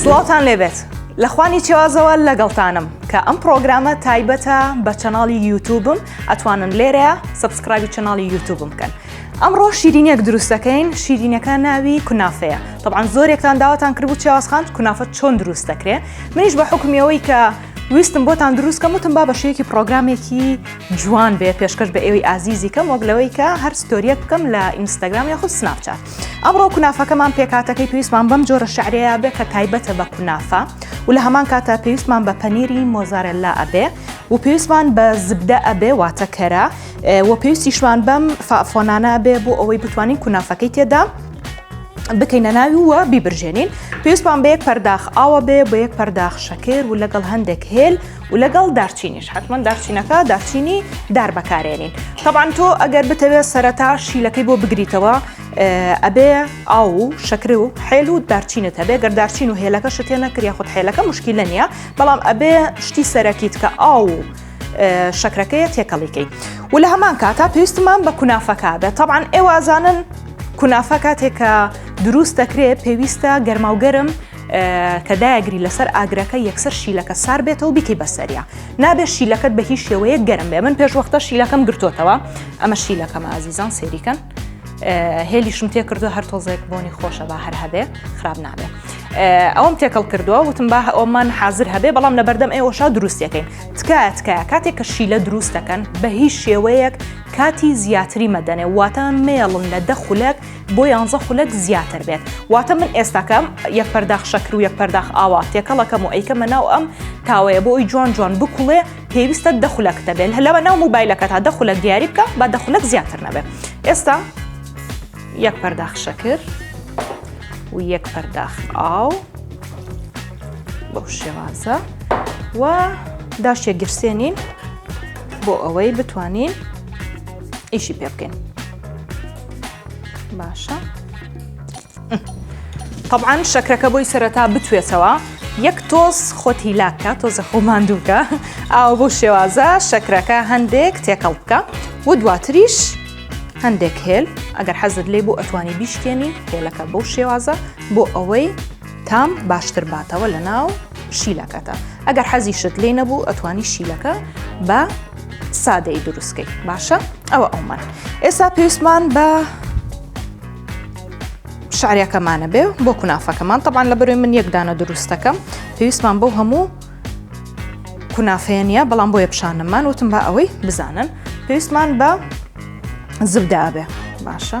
سڵاوتان لێبێت لە خوانی چێوازەوە لەگەڵتانم کە ئەم پرۆگرامە تایبەتە بە چەناڵی یوتوبم ئەتوانن لێرەیە سبسکرایبی چەناڵی یوتوبم بکەن ئەمڕۆ شیرینێک دروستەکەین شیرینەکە ناوی کونافەیە طبعاان زۆرێکتان داواتان کرد و چێوازخان کونافە چۆن دروست دەکرێ منیش بە حکمیەوەی کە ویستم بۆتان دروستکەم وتم با بەشەیەکی پرۆگرامێکی جوان بێ پێشکەش بە ئێوەی ئازیزی کەم وەک لەوەی کە هەر ستۆریەک بکەم لە ئینستاگرام یاخود سناپچات ئەمڕۆ کونافەکەمان پێکاتەکەی پێویستمان بەم جۆرە شعرەیە بێ کە تایبەتە بە کونافە و لە هەمان کاتە پێویستمان بە پەنیری مۆزارەللا ئەبێ و پێویستمان بە زبدە ئەبێ واتەکەرە و پێویستیشمان بەم فافۆنانە بێ بۆ ئەوەی بتوانین کونافەکەی تێدا بکەینە ناوی وە بیبرژێنین پێویستمان بە یەک پەرداخ ئاوە بێ بە یەک پەرداخ شەکر و لەگەڵ هەندێک هێل و لەگەڵ دارچینیش حتمما دارچینەکە دارچینی دار بەکارێنین تەبان تۆ ئەگەر بتەوێت سەرەتا شیلەکەی بۆ بگریتەوە ئەبێ ئاو و شەکر و حێل و دارچینت هەبێ گەر دارچین و هێلەکە شتێ نەکریا خود حێلەکە مشکیلە نییە بەڵام ئەبێ شتی سەرەکیت کە ئاو و شەکرەکەیە تێکەڵیکەی و لە هەمان کاتا پێویستمان بە کونافەکە بێت تەبان ئێوازانن کونافە کاتێکە دروست دەکرێت پێویستە گەرماوگەرم کە دایگری لەسەر ئاگرەکە یەکسەر شیلەکە سار بێتەوە بیکەی بەسەریا نابێت شیلەکەت بە هیچ شێوەیە گەرم بێ من پێش وەختە شیلەکەم گرتوتەوە ئەمە شیلەکەم ئازیزان سێریکەن هێلیشم تێ کردو هەر تۆزێک بۆنی خۆشە با هەر هەبێ خراپ نابێ ئەوم تێکەڵ کردووە وتم با ئەومان حاضر هەبێ بەڵام لە بەردەم ئێوەشا دروستەکەین تکایە تکایە کاتێک کە شیلە دروستەکەن بە هیچ شێوەیەک کاتی زیاتری مەدەنێ واتە مێڵن لە دەخولەک بۆ یانزە خولەک زیاتر بێت واتە من ئێستاکەم یەک پەرداخ شەکر و یەک پەرداخ ئاوا تێکەڵەکەم و ئەیکەمە ناو ئەم تاوەیە بۆ ئەوی جوان جوان بکوڵێ پێویستە دەخولەک دەبێت هەلەوە ناو موبایلەکە تا دەخولەک دیاری بکە با دەخولەک زیاتر نەبێت ئێستا یەک پەرداخ شەکر و یەک پەرداخ ئاو بەو شێوازە و داشتێک گرسێنین بۆ ئەوەی بتوانین ئیشی پێ بکەین باشە طبعا شەکرەکە بۆی سەرەتا بتوێتەوە یەک تۆز خۆت هیلاکە تۆزە خۆ ماندووکە ئاو بۆ شێوازە شەکرەکە هەندێک تێکەڵ بکە و دواتریش هەندێک هێل ئەگەر حەزت لێ بۆ ئەتوانی بیشکێنی هێلەکە بۆ شێوازە بۆ ئەوەی تام باشتر باتەوە لە ناو شیلەکەتە ئەگەر حەزی شت لێ نەبوو ئەتوانی شیلەکە بە سادەی دروستکەی باشە ئەوە ئەومان ئێستا پێویستمان بە شعرەکەمانە بێ بۆ کونافەکەمان تەبان لە بەروی من یەکدانە دروستەکەم پێویستمان بۆ هەموو کونافەیە نیە بەڵام بۆیە پیشانەمان وتم بە ئەوەی بزانن پێویستمان بە زبدابێ باشە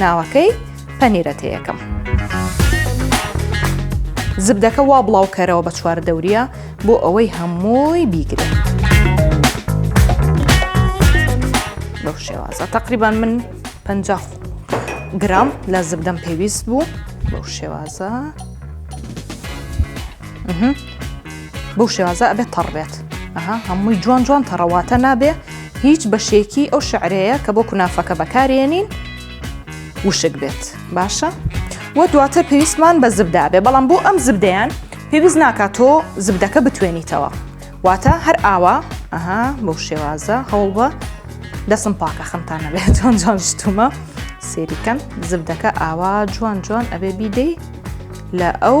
ناوەکەی پەنیرە تێیەکەم. زبدەکە وا بڵاو کەرەوە بە چوار دەوریە بۆ ئەوەی هەمووی بیگرێت. لەو شێوازە تقریبان من پ گرام لە زبدەم پێویست بوو بەو شێوازە بەو شێوازە ئەبێت تەڕبێت ئەها هەمووی جوان جوان تەڕەواتە نابێ هیچ بەشێکی ئەو شعرەیە کە بۆ کونافەکە بەکارێنین وشک بێت باشە و دواتر پێویستمان بە زبدابێ بەڵام بۆ ئەم زبدەیان پێویست ناکات تۆ زبدەکە بتوێنیتەوە واتە هەر ئاوا ئەها بەو شێوازە هەوڵ بە دەسم پاکە خەمتان نەبێت جوان جوان شتومە سێریکەم زبدەکە ئاوا جوان جوان ئەبێ بیدەی لە ئەو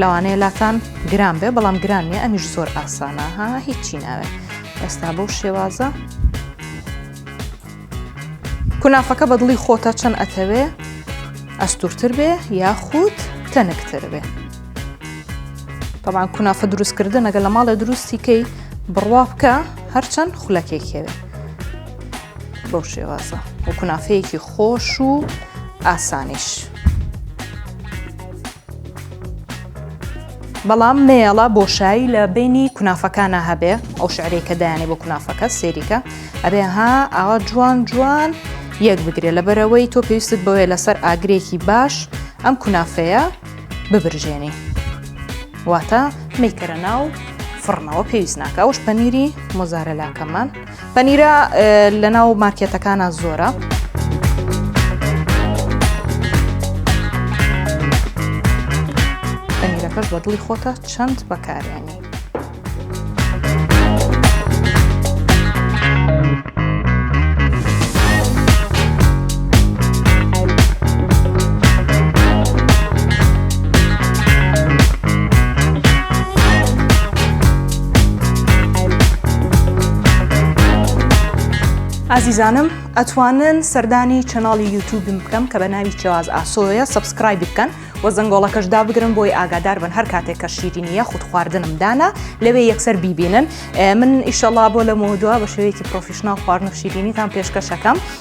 لەوانەیە لاتان گران بێ بەڵام گران نیە ئەمیش زۆر ئاسانە ها هیچی ناوێت ئێستا بەو شێوازە کونافەکە بەدڵی خۆتە چەند ئەتەوێ ئەستورتر بێ یاخود تەنکتر بێ بەڵام کونافە دروستکردن ئەگە لە ماڵێ دروستیکەی بڕوا بکە هەرچەند خولەکێکێوێ بەو شێوازە و کونافەیەکی خۆش و ئاسانیش. بەڵام مێڵە بۆشایی لە بینی کونافەکانە هەبێ ئەو شعرەی کە دایانێ بۆ کونافەکە سێریکە ئەبێ ها ئاوا جوان جوان یەک بگرێ لە بەرەوەی تۆ پێویستت بەوەیە لەسەر ئاگرێکی باش ئەم کونافەیە ببرژێنی واتە میکەرە ناو فڕنەوە پێویست ناکە ئەوش پەنیری مۆزارەلاکەمان پەنیرە لەناو مارکێتەکانە زۆرە. کەس بە دڵی خۆتە چەند بەکاریانی. ئازیزانم ئەتوانن سەردانی چەناڵی یوتوبم بکەم کە بە ناوی چێواز ئاسۆیە سبسکرای بکەن و زەنگۆڵەکەش دابگرن بۆی ئاگادار بن هەر کاتێک کە شیرینیە خود خواردنم دانا لەوێ یەکسەر بیبینن من ئیشەڵا بۆ لە مۆدووە بە شێوەیەکی پرۆفیشنناڵ خواردن و شیرینیتان پێشکەشەکەم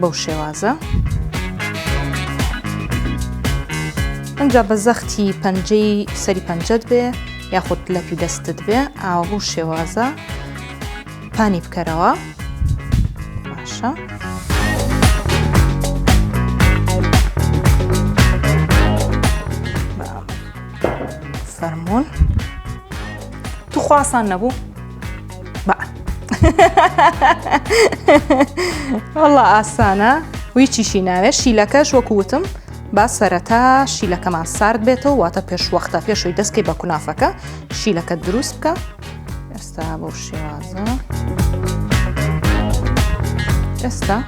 بەو شێوازە ئەجا بە زەختی پەنجەی سەری پەنجەت بێ یاخود لەپی دەستت بێ ئاوە بەو شێوازە پانی بکەرەوە باشە. فەرمونون توخواسان نەبوو وەڵا ئاسانە ویچیشی ناوێت شیلەکەش وەکووتم با سەرەتا شیلەکەمان سارد بێتەوە واتە پێشوەختە پێشوی دەستکەی بە کونافەکە شیلەکە دروست بکە ئێستا بۆ شێوازە ئێستا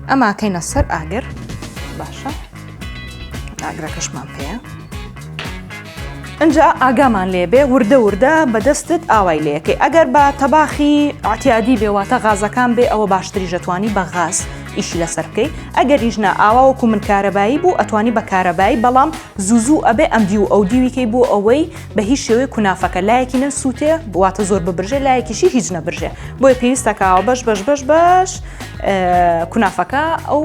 ئەماکەینە سەر ئاگر باشە ئاگرەکەشمان پێەیە ئەجا ئاگامان لێبێ وردە وردە بەدەستت ئاوای لەکەی ئەگەر بە تەباخی ئاتیادی بێواتە غازەکان بێ ئەوە باشتری ژەتوانی بە غاز ئیشی لەسەر بکەی ئەگەر ریژنا ئاوا وەکو من کارەبایی بوو ئەتوانی بە کارەبایی بەڵام زوزوو ئەبێ ئەم دی و ئەو دیویکەی بۆ ئەوەی بە هیچ شێوەی کونافەکە لایەکی نەسووتێ بواتە زۆر ببرژێ لایەکیشی هیچ نەبرژێ بۆیە پێویستەکەەوە بەش بەش بەش بەش کونافەکە ئەو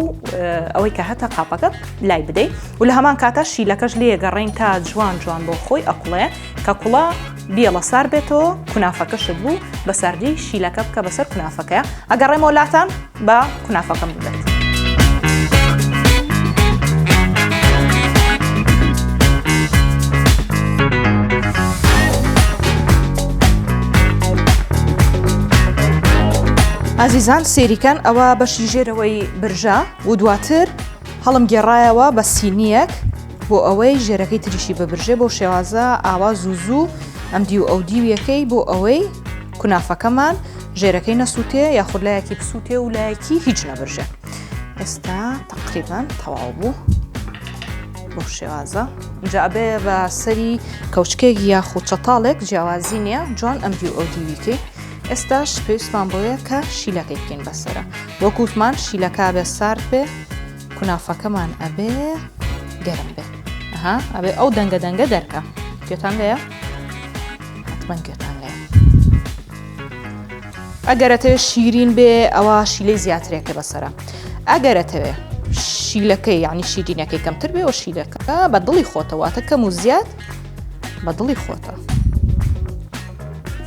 ئەوەی کە هەتا قاپەکە لای بدەیت و لە هەمان کاتە شیلەکەش لێ گەڕین تا جوان جوان بۆ خۆی ئەقڵێ کە کوڵا بیڵە سار بێتەوە کونافەکەشت بوو بە سەردی شیلەکە بکە بەسەر کونافەکەیە ئەگەڕێمەوە لاتان بە کونافەکەم بدەن. ئازیزان سێری کەن ئەوە بەشی ژێرەوەی برژە و دواتر هەڵم گێڕایەوە بە سینیەک بۆ ئەوەی ژێرەکەی تریشی ببرژێ بۆ شێوازە ئاوا زوو زوو ئەم دی و ئەو دیویەکەی بۆ ئەوەی کونافەکەمان ژێرەکەی نەسووتێ یاخود لایەکی بسووتێ و لایەکی هیچ نەبرژێ ئێستا تقریبان تەواو بوو بۆ شێوازە جابێ بە سەری کەوچکێک یاخود چەتاڵێک جیاوازی نییە جوان ئەم دی و ئەو دیویکەی ئێستاش پێویستمان بەوەیە کە شیلەکەی بکەین بەسرە وەک وتمان شیلەکە بێ سارد بێ کونافەکەمان ئەبێ گەرم بێ ها ئەبێ ئەو دەنگە دەنگە دەرکە گوێتان لەیە حتمما گوێتان لەیە ئەگەرەتەوێ شیرین بێ ئەوە شیلەی زیاترێکە بەسرە ئەگەرەتەوێ شیلەکەی یعنی شیرینەکەی کەمتر بێ و شیلەکە بە دڵی خۆتەواتە کەم و زیاد بە دڵی خۆتە.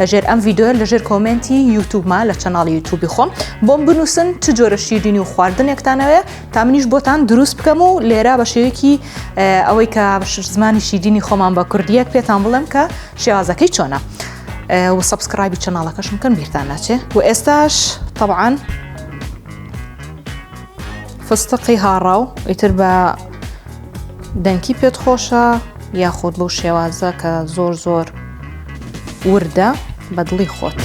لە ژێر ئەم ڤیدۆیە لە ژێر کۆمنتی یوتوبما لە چەناڵی یوتوبی خۆم بۆم بنووسن چ جۆرە شیرینی و خواردنێکتانەوەێ تا منیش بۆتان دروست بکەم و لێرا بە شێوەیەکی ئەوەی کە زمانی شیدینی خۆمان بە کوردیەک پێتان بڵێم کە شێوازەکەی چۆنە و سبسکرایبی چەناڵەکەشم کەم بیرتان ناچێ و ئێستاش طبعاان فستقی هاڕاو ئیتر بە دەنکی پێت خۆشە یاخود بەو شێوازە کە زۆر زۆر وردە بەدڵی خۆت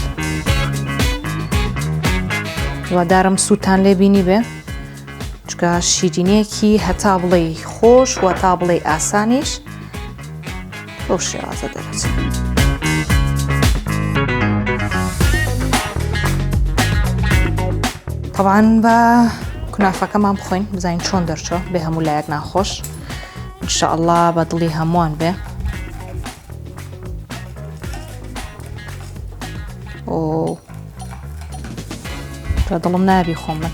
وادارم سووتان لێ بینی بێ چکە شیرینەیەکی هەتا بڵێ خۆش و تا بڵێ ئاسانیش بەو شێوازە دەرەچێت طبعاان بە کونافەکەمان بخۆین بزانین چۆن دەرچۆ بێ هەموو لایەک ناخۆش انشاءله بە دڵی هەمووان بێ کە دڵم نابی خۆم من